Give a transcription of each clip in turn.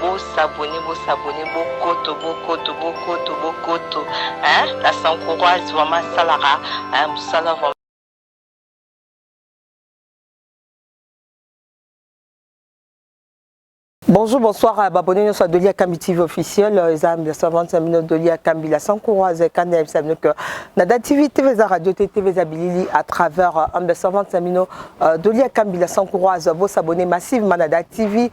Bo s'abonner bo s'abonner bokoto bokoto bokoto bokoto hein la sankuroise vraiment asalaka hein musala vraiment. Bonjour, bonsoir à Babone, nous sommes Dolia Kambi TV officiel, les amis, les servantes, les amis, Dolia Kambi, la Sankoura, les Kanda, les amis, que Nada TV, TV, la radio, TV, la Bilili, à travers, les servantes, les amis, Dolia Kambi, la Sankoura, vous s'abonnez massivement, Nada TV,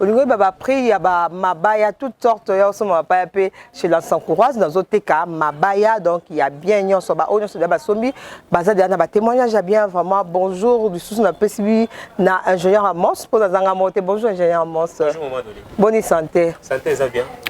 olingi oyeba ba prix ya ba mabaya toute sorte ya osomba mabaya mpe chez la sancourage nazoteka mabaya donc ya bien nyonso baoyo nyonso deya basombi baza deya na batémoignage ya bien vraiment bonjour lisusu napesi bi na ingénieur amos mpo nazanga moko te bonjour ingénieur amos boni santé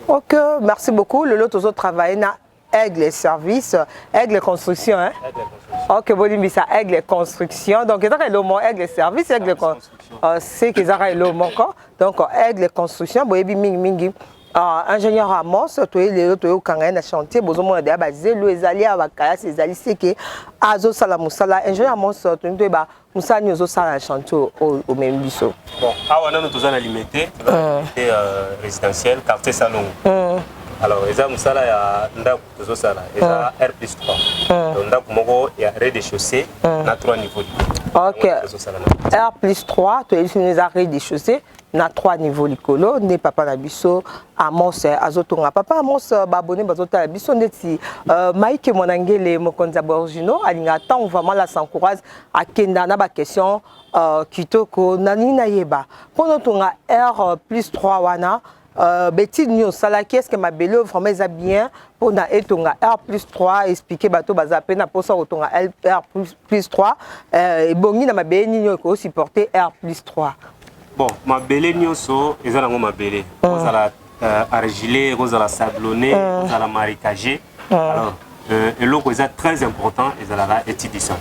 ok merci beaucoup lelo tozotravaille na Aigle service, aigle construction hein. Aigle construction. OK, bolimbisa aigle construction. Donc ezaka elomo aigle service, aigle construction. Euh, c'est que ezaka elomo ko. Donc aigle construction boyebi mingi mingi. Uh, ingénieur Amos toye lelo toyokanga ye na chantier bozomona deya bazelu ezali ya bakalasi ezali seke azosala mosala ingénieur Amos tolingi toyeba mosala nini ozosala na chantier oyo omemi biso bon awa nano toza na limete euh. euh, résidentiel quartier salongo euh. alors eza mosala ya ndako tozosala eza r plus 3 donc ndako moko ya rez de chaussée na 3 niveau ok r plus 3 toyebisi eza rez de chaussée na trois niveau likolo nde papa na biso amos eh, azotonga papa amos eh, baabone bazotala biso ndeti uh, maike mwanangele mokonzi ya borgino alingaka ntango vraiment la sancourage akenda na baquestion uh, kitoko na nini nayeba mpo notonga heure plus 3 wana Uh, betide nini osalaki estce mabele oyo vraiment eza bien mpona etonga r plus 3 explike bato baza mpe na mposa kotonga r plus plus 3 euh, ebongi na mabele nini oyo ekoki supporter r plus 3 bon mabele nyonso eza nango mabele mm. kozala euh, argilé kozala sablonné mm. kozala marécagé mm. alors euh, eloko eza très important ezalaka étude du sol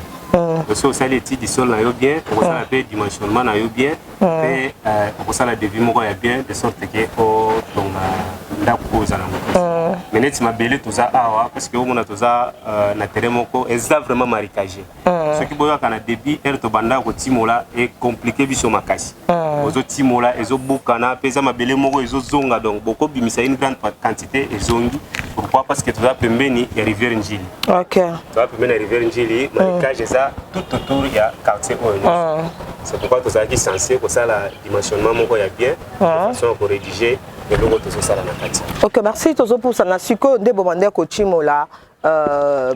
soki osali étude du sol na yo bien okosala mpe dimensionnement na yo bien mpe eh. eh, okosala devis moko ya bien de sorte ke otonga ndako oyo oza nango eh. me neti mabele toza awa parceke omona toza na terrain moko eza vraiment maricage soki boyaka na débit heure tobandaka kotimola ecomplike biso makasi ozotimola ezobukana mpe eza mabele moko ezozonga donc bokobimisa une grande quantité ezongi pourquoi parce que toza pembeni ya rivière njili toza pembeni ya rivière njili maricage eza tout autour ya quartier oyo c'est pourquoi tozalaki sense kosala dimensionnement moko ya bien ah. façon ya korédige eloko tozosala na kati ok merci tozopusana sikoyo nde bobandaki kotimola euh,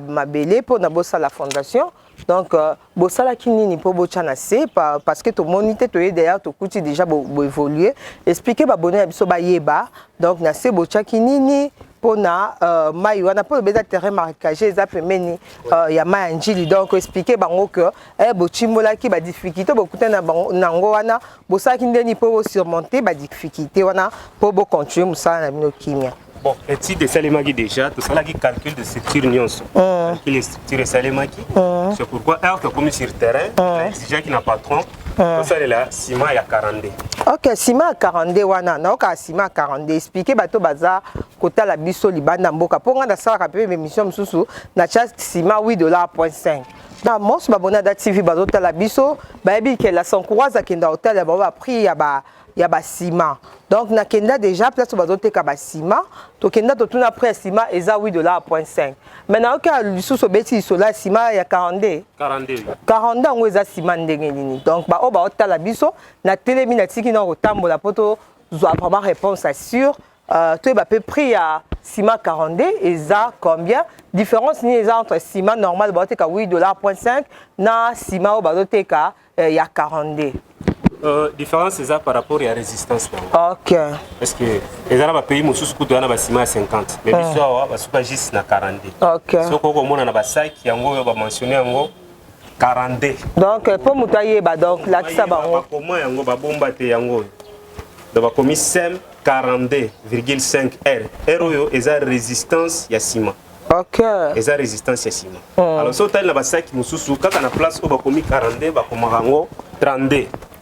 mabele mpo na bosala fondation donc euh, bosalaki nini mpo botya na se parce que tomoni te toye derrière tokuti déjà boévolue explike babone na biso bayeba donc na se botyaki nini mpo na euh, mai wana mpo loba eza terrain marquage eza pembeni euh, ya mai ya njili donc explike bango que eh, botimbolaki badifficulté bokutani na bango nango wana bosalaki ndeni mpo bosurmonte badifficulté wana mpo bocontinue mosala na bino kimia bon étude esalemaki déjà tosalaki calcul de structure nyonso mm. calcul de structure esalemaki mm. c'est pourquoi heure tokomi sur terrain mm. exigeaki na patron tosalela ciment ya 42 ok ciment ya 42 wana nayokaa ciment ya 42 explike bato baza kotala biso libanda mboka mpo ngai nasalaka mpe bemission mosusu natya ciment 8 dollar point 5 na mos babona da tv bazotala biso bayebi ke la sancourage akenda hôtel ya bango ba prix ya ba ya basima donc nakenda déjà place oyo bazoteka basima tokenda totuna prix ya sima eza 8 dollar point 5 mai nayoki lisusu obeti lisola ya sima ya 42 42 yango eza sima ndenge nini donc baoyo baotala biso natelemi natiki na kotambola mpo tozwa vraiment réponse assure Euh, toyeba mpe prix ya sima 42 eza combien différence nini eza entre sima normal bazoteka 8 dollar point 5 na sima oyo bazoteka eh, ya 42 Euh, différence eza par rapport ya résistance nango ok parce que eza na bapays mosusu kutu eza na basima ya 50 mais biso awa basuka juste na 42 ok soki okomona na basaki yango oyo bamentionne yango 42 donc mpo euh, moto ayeba donc lakisa bango bakoma yango babomba te yango oyo donc bakomi sem 42,5 r r oyo eza résistance ya nsima okay. eza résistance ya nsima mm. alors so otali na basaki mosusu kaka na place oyo bakomi 42 bakomaka yango 32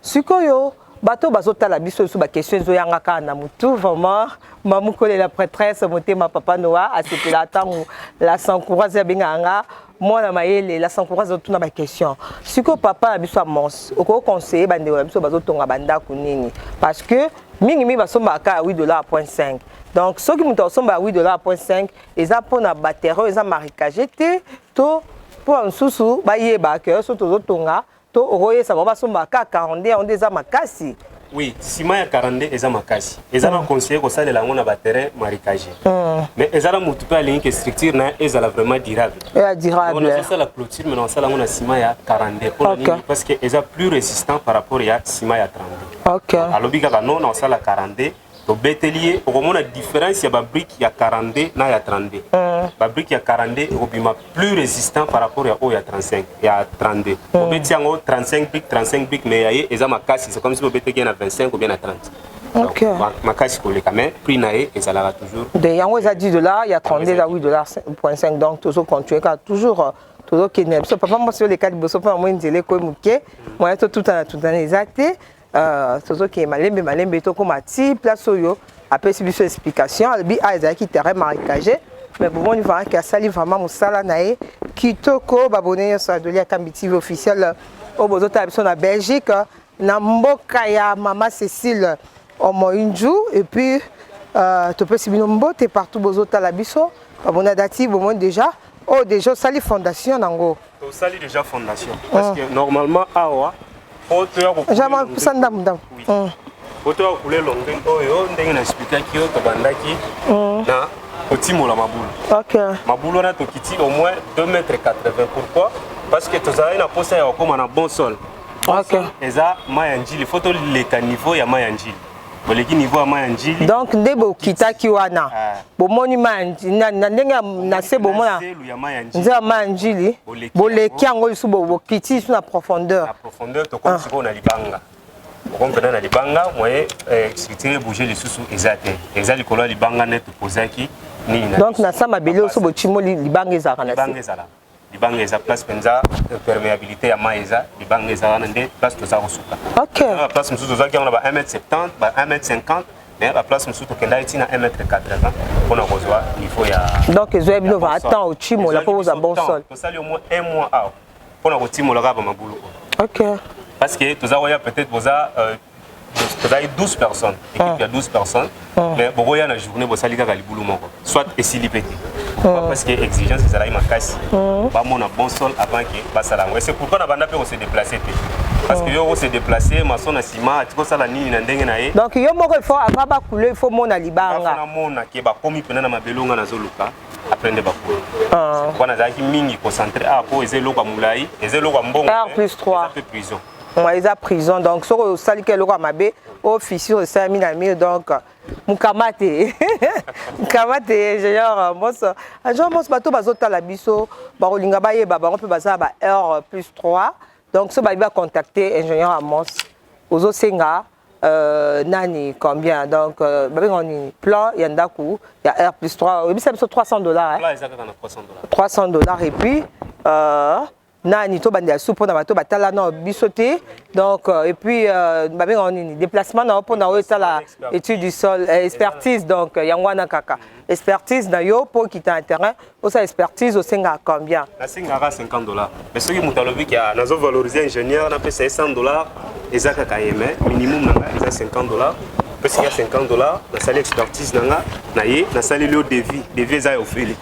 Sikoyo bato bazotala biso lisusu ba question ezoyanga kaka na mutu vraiment mamu kolela prêtresse motema papa noa asepela ntango la sancourase abengaka nga mwana mayele la sancourase azotuna ba question sikoyo papa na biso amons okoki conseiller bandeko na biso bazotonga bandako nini parce que mingi mingi basombaka kaka 8 dollar point 5 donc soki moto akosombaka 8 dollar point 5 eza mpona baterreur eza marikage te to mpo ya mosusu bayeba ke so tozotonga To okoyesa bango basomba ka 42 yango nde eza makasi. Oui, sima ya 42 eza makasi. Eza na mm. conseiller kosalela yango na ba terrain marécage. Mm. Mais eza na mutu pe alingi ke structure na ezala vraiment durable. Ya durable. On a ça la clôture mais on sala yango na sima ya 42 pour okay. nini parce que eza plus résistant par rapport ya sima ya 32. OK. Alobi kaka non na sala 42 tobeteli ye okomona différence ya babrike ya 42 na ya 32 mm. babrike ya 42 ekobima plus résistant par rapport ya oyo ya 35 ya 32 mm. obeti yango 35 brique 35 brique mais ya ye eza makasi c'est comme si obeteki ye na 25 ou bien na 30 okay. makasi koleka mais prix na ye ezalaka toujours de yango eza 10 dollars ya 32 eza 8 dollars 5 donc tozo continuer kaka toujours euh, tozokende na biso papa mwasi oleka liboso mpo namoni nzela ekoyi moke moya totutana tutana eza te Euh, tozokende malembe malembe tokóma ti place oyo apesi biso explication alobi a ah, ezalaki terrain marécage mais bomoni vraiment ke asali vraiment mosala na ye kitoko babone nyonso ya doli akambi tv officiel euh, oyo bozotala biso na belgique euh, na mboka ya mama cécile omoinju et puis euh, topesi bino mbote partout bozotala biso babona dati bomoni déjà oyo oh, déjà osali fondation nango tosali déjà fondation ah. parce que normalement awa po toya kokopesa ndambo ndambo mm. po toya kokule longue oyo ndenge na explikaki yo tobandaki mm. na kotimola mabulu mabulu wana tokiti au moins 2 mètre 80 pourquoi parce que tozalaki na mposa ya kokóma na bon sol eza mai ya njili fo toleka niveau ya mai ya njili boleki niveau ya mai ya njili donc nde bokitaki wana ah. bomoni mai na ndenge na se bomona nzela ya mai ya njili boleki yango lisusu bokiti lisusu na profondeur na profondeur tokomi ah. sikoyo na libanga okomi mpena na libanga moye eh, structure ebouge lisusu eza te eza likolo ya libanga nde topozaki nini donc na sa mabele oso bocimoli libanga ezalaka na se libanga eza place penza euh, perméabilité ya mai eza libanga eza wana nde place toza kosuka okay. na place mosusu tozwaki yango na ba 1 mètre 70 ba 1 mètre 50 mais ba place mosusu tokendaki ntina 1 mètre 80 mpona kozwa niveau ya donc ezwa bino va temps otimola mpo ozwa bon sol tosali au moins un mois awa mpona kotimola kaka bamabulu oyo okay. parce que toza koya peut-être boza euh, tozalaki 12 personnes équipe ya 12 personnes mais bokoya na journée bosali kaka libulu moko soit esili mpe te parce que exigence ezalaki makasi bamona bon sol avant ke basala yango ese pourquoi nabanda mpe kose déplace te parce que yo ose déplace maso na nsima atiki osala nini na ndenge na ye donc yo moko ifo ava bakule ifo mona libanga namona ke bakomi mpena na mabele onga nazoluka après nde bakulu wana azalaki mingi concentré awa mpo eza eloko ya molai eza eloko ya mbongo plus 3 prison mwa eza prison donc soki osali ka eloko ya mabe o fissure esalami na mur donc mukamate mukamate ingénieur moso ingénieur moso bato bazotala biso bakolinga bayeba bango mpe baza ba heure plus 3 donc so bayebi bacontacte ingénieur amos ozosenga euh, nani combien donc euh, babengaka nini plan ya ndako ya heure plus 3 oyebisa biso 300 dollars hein? 300 dollars et puis euh, nani tobandela su mpo na bato batala na biso te donc euh, et puis euh, babengaka nini déplacement na yo mpo na oyo esala étude du sol euh, expertise donc yango wana kaka expertise na yo mpo okita na terrain osala expertise osengaka combien nasengaka 50 dollars mais soki moto alobi ke nazo valoriser ingénieur napesa ye 100 dollars eza kaka ye mais minimum na ngai eza 50 dollars pesi ya 50 dollars nasali expertise na nga na ye nasaleli yo devis devis eza ya ofele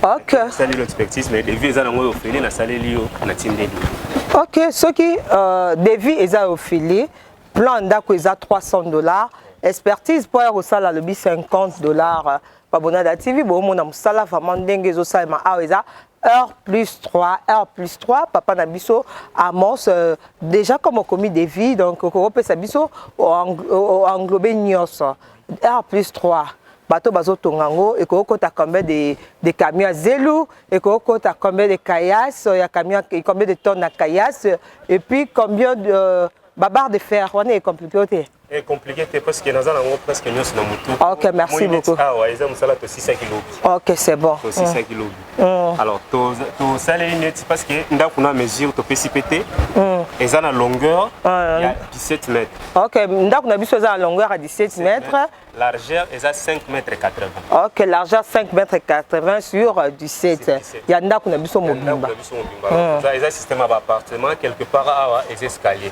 ok sali lo expertise mais devis eza nango yo feli na saleli yo na tindeli ok soki euh, devis eza yo feli plan ndako eza 300 dollars expertise mpo ya kosala lobi 50 dollars euh, babonada tv boomona mosala vraiment ndenge ezosalema awa eza heure plus 3 heure plus 3 papa na biso amos euh, déjà comme okomi devis donc okopesa biso englobe nyonso R plus 3 bato bazotonga yango ekoki kota combien de, de camion ya zelu ekoki kota combien de kayas ya camion combien de tonne ya kayas et puis combien de euh, babarre de fer wana ecomplike yo te Eh, compliqué te parce que naza nango presque nyonso na motu ok merci beaucoup awa eza mosala tosisaki lobi ok c'est bon tosisaki lobi Mm. alors tosaleli to neti parce que ndako na mesure topesi pe te mm. eza na longueur mm. ya 17 mètre ok ndako na biso eza na longueur ya 17 mètre largeur eza 5 mètre 80 ok largeur 5 mètre 80 sur 17 euh, ya ndako na biso mobimba eza système ya baappartement quelque part awa eza escalier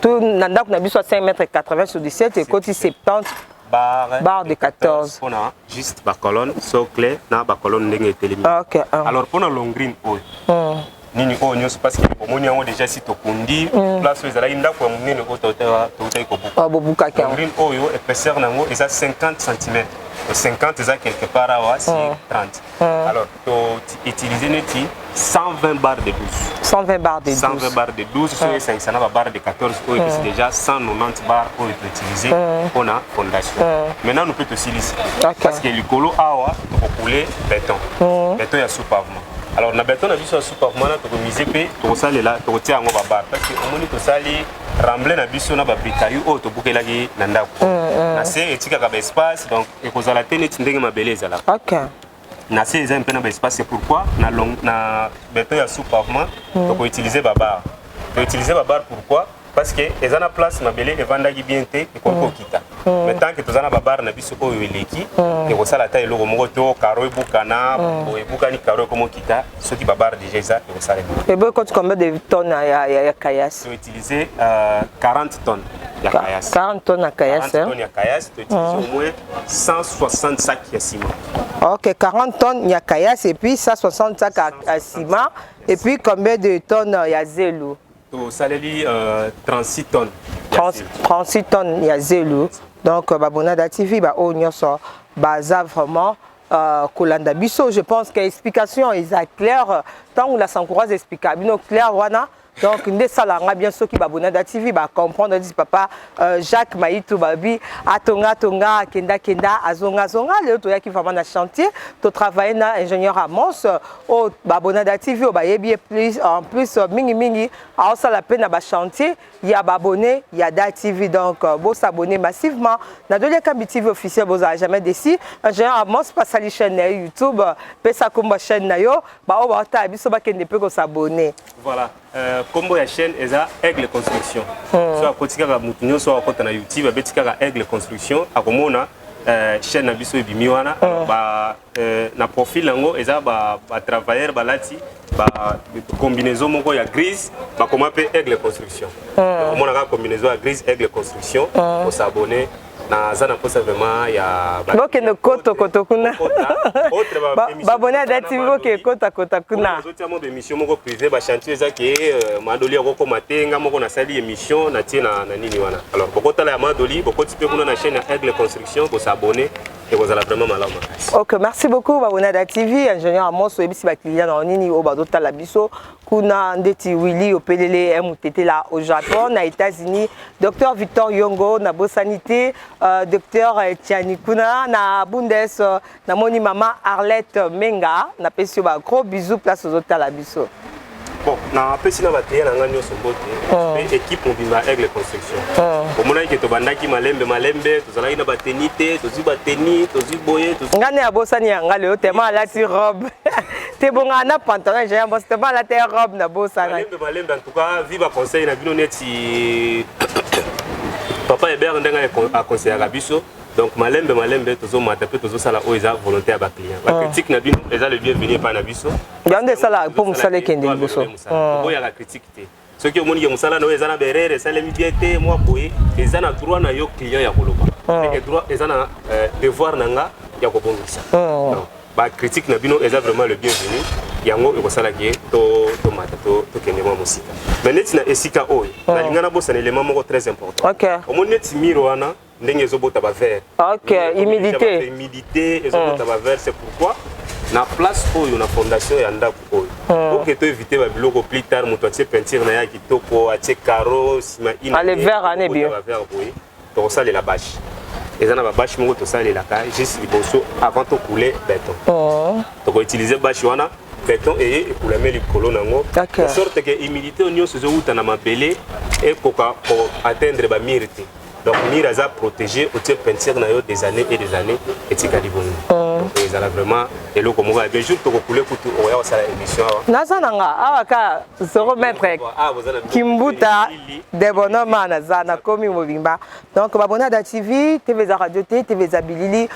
to na ndako na biso ya 5 mètre 80 sur 17 ekoti 70 barre, barre de 14 pona juste ba colonne socle na ba colonne ndenge etelemi okay, um. alors pona long green oyo mm. nini oyo nyonso parce que omoni yango déjà si tokundi mm. place oyo ezalaki ndako ya monene oyo toutaki kobukabobukaki ah, green oyo épaisseur na yango eza 50 cm 50 eza quelque part awa si mm. 30 mm. alors to utiliser neti 120 barres de 12 120 barres de 12 120 barres de 12 soki ah. esangisa na ba barres de 14 oyo epesi ah. déjà 190 barres oyo toutiliser ah. mpo na fondation maintenant mpe tosilisi parce que likolo awa tokokule beton beton ya sous-pavement alors na beton na biso ya sous-pavement wana tokomise mpe tokosalela tokotia yango babar parce que omoni tosali ramble na biso na babrikayu oyo tobukelaki na ndako na se etikaka baespace donc ekozala te neti ndenge mabele ezalaka na se eza mpe na baespace c'est pourquoi na, long, na beton ya sous pavement mm. tokoutilise babar toutilise babar pourquoi parce que eza na place mabele evandaki bien te ekoki kokita mm. mm. mais tant que toza na babar na biso oyo eleki mm. ekosala ata eloko moko to karo ebukana mm. ebukani karo ekomokita soki babar déjà eza ekosalema ebo ekoti combien de tonne ya, ya, ya kayasi utiliser euh, 40 tonnes ya kayas 40 tonnes ya kayas 40 tonnes ya kayas to utiliser mm. au moins 160 sacs ya ciment OK 40 tonnes ya kayas et puis 160 sacs à ciment et puis combien de tonnes euh, ya zelu to saleli euh, 36 tonnes 30, 36 tonnes ya zelu donc euh, babonada tv ba oyo nyonso baza vraiment Euh, kolanda biso je pense que explication eza claire ntango la sankoura explika bino claire wana donc nde esalaka nga bien soki babonada tv bacomprendre dis papa euh, jacques mayitu babi atonga atonga akenda kenda azonga azonga lelo toyaki vraiment na chantier totravaille na ingénieur amos oyo oh, babonada tv oyo oh, bayebi ye plus en plus euh, mingimingi aosala mpe na bachantier ya babone ya da tv donc euh, bosabone massivement na doliakambi tv officiel bozala jamais desi ingénieur amos pasali chaîne na ye youtube pesa komba chaîne na yo baoyo baotala biso bakende mpe kosabone Voilà. Euh, combo ya chaîne eza Aigle Construction. Hmm. So akoti kaka mutu nyonso akota na YouTube abeti kaka Aigle Construction akomona euh, chaîne na biso ebimi wana hmm. ba euh, na profil yango eza ba ba travailleurs balati ba combinaison moko ya grise bakoma pe Aigle Construction. Hmm. Omonaka combinaison ya grise Aigle Construction, hmm. osabonner naza na mposa vraiment ya bokende kotokoto kuna babone ya dati boke kotakota kuna nazotia mwa baémission moko privé bachantier eza ke euh, madoli akokoma te nga moko nasali émission natie na nini wana alors bokotala ya madoli bokoti mpe kuna na chaîne ya aigle construction kosabone ekozala vraiment malamu makasi ok merci beaucoup babonada tv ingénieur amos oyebisi bakliya na yo nini oyo bazotala biso kuna ndeti willi opelele eh, mutetela au japon na états-unis docteur victor yongo na bosani te uh, docteur tiani kuna na bundes uh, namoni mama arlette menga napesi yo ba gros bisous place ozotala biso bon napesi na bateya na ngai nyonso mbote oh. mpe équipe mobimba ya aigle construction oh. omonaki ke tobandaki malembe malembe tozalaki na bateni te tozwi bateni tozwi boye ngai nde abosani ya ngai lelo tema alati robe te bonga na pantalon ya yambo te bala te robe na bosa na lembe balembe en tout cas viva conseil na bino neti papa Hébert ndenge a conseillaka biso donc malembe malembe tozomata mpe tozosala oyo eza volonté ya baclient ah. bacritique na bino eza le bienvenu epai na biso yango nde esala mpo mosala ekende liboso oboyaka ah. critique te soki omoni ke mosala na yo eza na berere esalemi bien te mwa boye eza na droit na yo client ya koloba hmm. droit eza na euh, devoir na nga ya kobongisa hmm. bacritique na bino eza vraiment le bienvenu yango ekosala ke tomata tokende mwa mosika mais neti na esika oyo hmm. nalinga nabosana elema moko très important omoni neti mire wana ndenge ezobota ba verre ok humidité humidité ezobota ba verre c'est pourquoi na place oyo na fondation ya ndako oyo hmm. oke to éviter ba biloko plus tard moto atie peinture na ye ya kitoko atie caro nsima inboye tokosalela bashe eza na babashe moko tosalelaka juste liboso avant tokoule beton hmm. tokoutilize bashe wana beton eye ekulame likolo na yango de sorte ke humidité oyo nyonso ezowuta na mabele ekoka koatteindre bamire te donc mur aza protégé otie peinture na yo des années et des années etikali bongo mm. ezala vraiment eloko moko ya bien jour tokokule kutu okoya kosala émission awa naza na nga awa ka 0 mètre kimbuta de bonoma naza nakomi mobimba donc babona da tv tv eza radio te tv eza bilili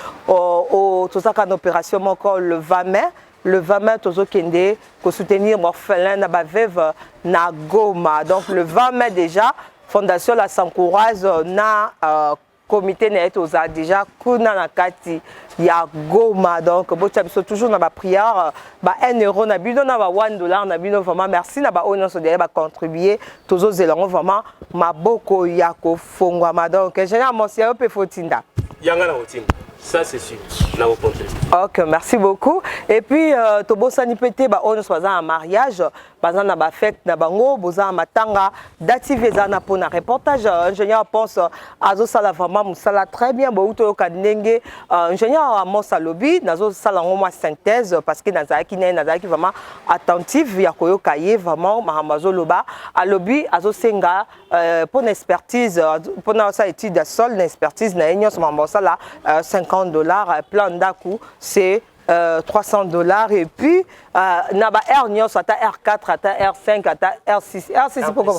tozaka na opération moko le 20 mai le 20 mai tozokende kosoutenir baorphelin na baveve na goma donc le 20 mai déjà fondation la sancourage na euh, comité na ye tozala déjà kuna na kati ya goma donc botya biso toujours na baprière ba 1 euro na bino na ba 1 dollar na bino vraiment merci na baoyo nyonso deya bacontribue tozozela yango vraiment maboko ya kof fongwama donc ingénieur mosi ya yo mpe fotinda yanga na kotinda ça c'est sûr na kokonte ok merci beaucoup et puis euh, tobosani mpe te baoyo nyonso baza na mariage baza na bafete na bango boza na matanga dative eza na mpona reportage euh, ingénieur pense euh, azosala vraiment mosala très bien bouti oyoka ndenge euh, ingénieur amos alobi nazosala yango mwa synthèse parce que nazalaki naye nazalaki vraiment attentive ya koyoka ye vraiment makambo azoloba alobi azosenga ah, Euh, pour une expertise, euh, pour une étude de sol, une expertise, nous avons 50 euh, dollars, plan d'aku, c'est 300 dollars et puis na ba R nyonso ata R4 ata R5 ata R6 R6 pourquoi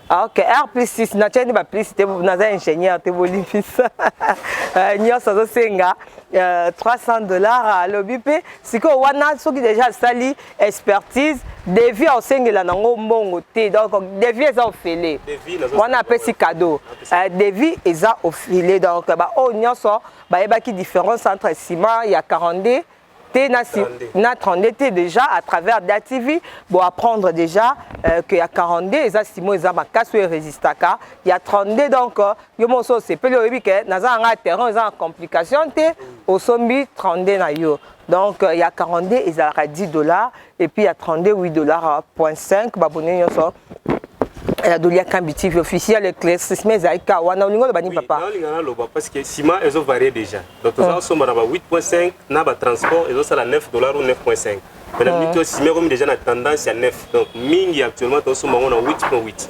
ah, OK R plus 6 na tieni ba plus te na za ingénieur te bolifisa nyonso azosenga 300 dollars alobi mpe sikoyo wana soki déjà asali expertise devi aosengela nango mbongo te donc devi eza ofele wana apesi cadeau euh, devi eza ofele donc baoyo nyonso bayebaki différence entre ciment ya 42 te na, si, na 32 te déjà à travers da tv bo apprendre déjà euh, que ya 42 eza simo eza makasi oyo erésistaka ya 32 donc euh, yo moko so osepeli oyebi ke naza na ngai terrain eza na complication te osombi 32 na yo donc euh, ya 42 ezalaka 10 dollars et puis ya 32 8 dollars euh, point 5 babone nyonso ya doli ya kambi tv officiel éclaircissement ezali ka wana olingi oloba nini papa nalinga naloba parce que ciment ezo varie déjà donc toza kosomba na ba 8.5 na ba transport ezosala 9 dollars ou 9.5 mais na minute oyo ciment ekomi déjà na tendance ya 9 donc mingi actuellement tozosomba yango na 8.8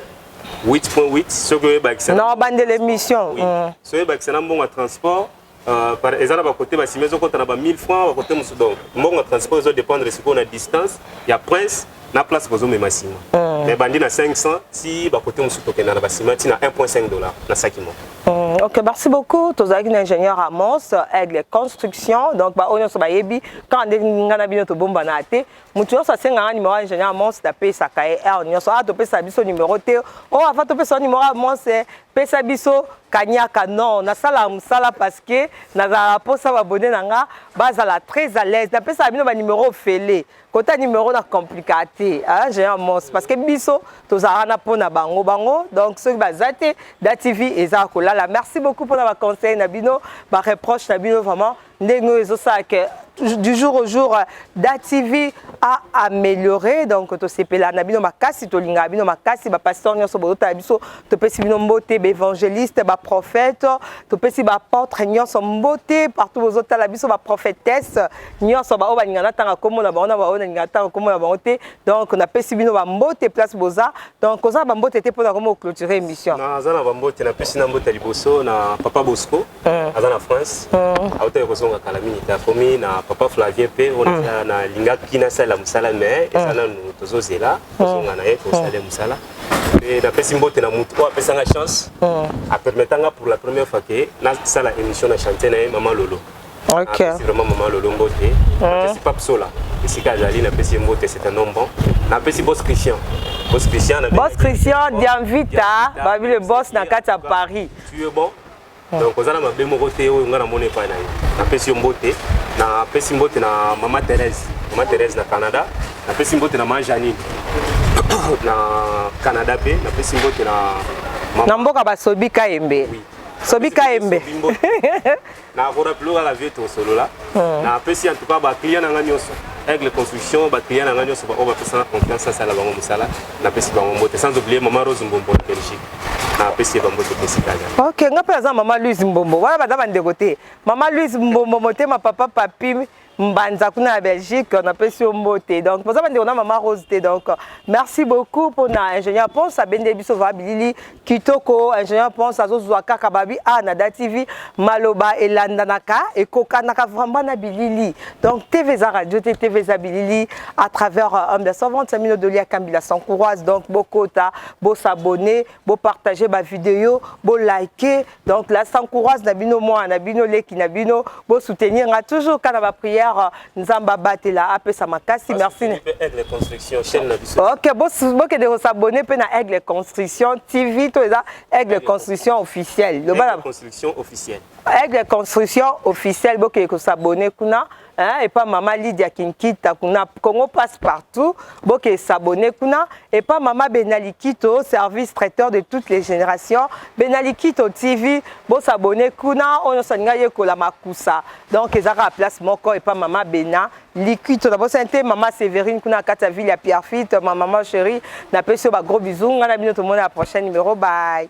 8.8 soki oyebakisa na obandela émission soki oyebakisa na mbongo ya transport Euh, par eza na bakote basimi ezokota na ba 1000 francs bakote mosusu donc mbongo ya transport ezo dépendre sikoyo na distance ya prince na place bozomema nsima mm. mais bandi na 500 ti bakote mosusu tokenda na basima ti na 1.5 dollar na saki moko mm, ok merci beaucoup tozalaki na ingénieur amos aigle construction donc baoyo nyonso bayebi kaka nde ngai na bino tobombana te moto nyonso asengaka numero ya ingénieur amos napesaka ye heure nyonso a ah, topesa biso numero te o oh, ava topesa numero ya amos eh, pesa biso kanyaka non nasalaka mosala parce que nazalaka mposa babone na nga bazala très à l'aise napesaka bino banimero ofele kota nimero na complikaa te géant mons parce que biso tozalaka na mpo na bango bango donc soki baza te da tv eza kolala merci beaucoup mpo na baconseil na bino bareproche na bino vraiment ndenge oyo ezosala ke du jour au jour da tv a amélioré donc tosepela na bino makasi tolingaka bino makasi bapasteur nyonso bozotala biso topesi bino mbote baévangéliste baprophète topesi baapôtre nyonso mbote partout bozotala biso baprophétesse nyonso baoyo balinga natanga nkombo na bango na baoyo nalinga natanga nkombo na bango te donc napesi bino bambote place boza donc oza na bambote te mpo na komo clôture émission naza na bambote napesi na mbote ya liboso na papa bosco Eh. aza na france eh. autaki kozonga kala mingi te akomi na papa flavien mpe oyo hmm. nalingaki nasalela mosala mais eza hmm. nanu tozozela hmm. kozonga na ye kosala mosala mpe napesi mbote na motu oyo apesanga chance apermetanga pour la première fois ke nasala émission na chantier na ye mama lolo Okay. Ah, vraiment maman lolo mbote napesi pape sola esika azali napesi ye mbote c'est un homme bon napesi bos christian bos christian bos christian dianvita babi le bos na kati ya paris tu es bon Ah. donc oza na mabe moko te oyo ngai namoni epai na yo napesi yo mbote napesi mbote na mama therese mama therese na canada napesi mbote na ma janine na canada mpe napesi mbote na na mboka basobi kayembe oui. sobi kayembe nakorapilo kaka vie tosolola hmm. napesi en tout cas baclient na ngai nyonso aigle construction baclient na ngai nyonso baoyo bapesaka confiance asala bango mosala napesi bango mbote sans oublier mama rose mbombo na belgique napesi ye bambote pesikali ok nga mpe naza mama louise mbombo wana baza bandeko te mama louise mbombo motema papa papi mbanza kuna ya belgique napesi yo mbote donc boza bandeko na mama rose te donc merci beaucoup mpona ingénieur ponce abendeli biso vaa bilili Kitoko ingénieur Ponce azozwa kaka babi a na Da TV maloba elandanaka ekokanaka vraiment na bilili donc TV eza radio te TV eza bilili à travers euh, homme de servante ya mino dolia kambila sans courage donc bokota bo s'abonner bo partager ba vidéo bo liker Donc la sancourage na bino moi na bino leki na bino bo soutenir nga toujours kana ba prière nzamba batela apesa makasi merci. Aigle construction chaîne na biso. OK bo bo ke de s'abonner pe na Aigle construction TV to eza Aigle construction officielle. Le bala construction officielle. Aigle construction officielle bo ke ko s'abonner kuna hein, epa mama Lydia Kinkita kuna Congo passe partout boke s'abonner kuna epa mama Benalikito service traiteur de toutes les générations Benalikito TV bo s'abonner kuna oyo nyonso alinga yekola makusa donc ezaka à place moko epa mama Bena Likito na bosani te mama Séverine kuna kati ya ville ya Pierrefitte ma maman chérie napesi yo ba gros bisous ngai na bino tomona la prochaine numéro bye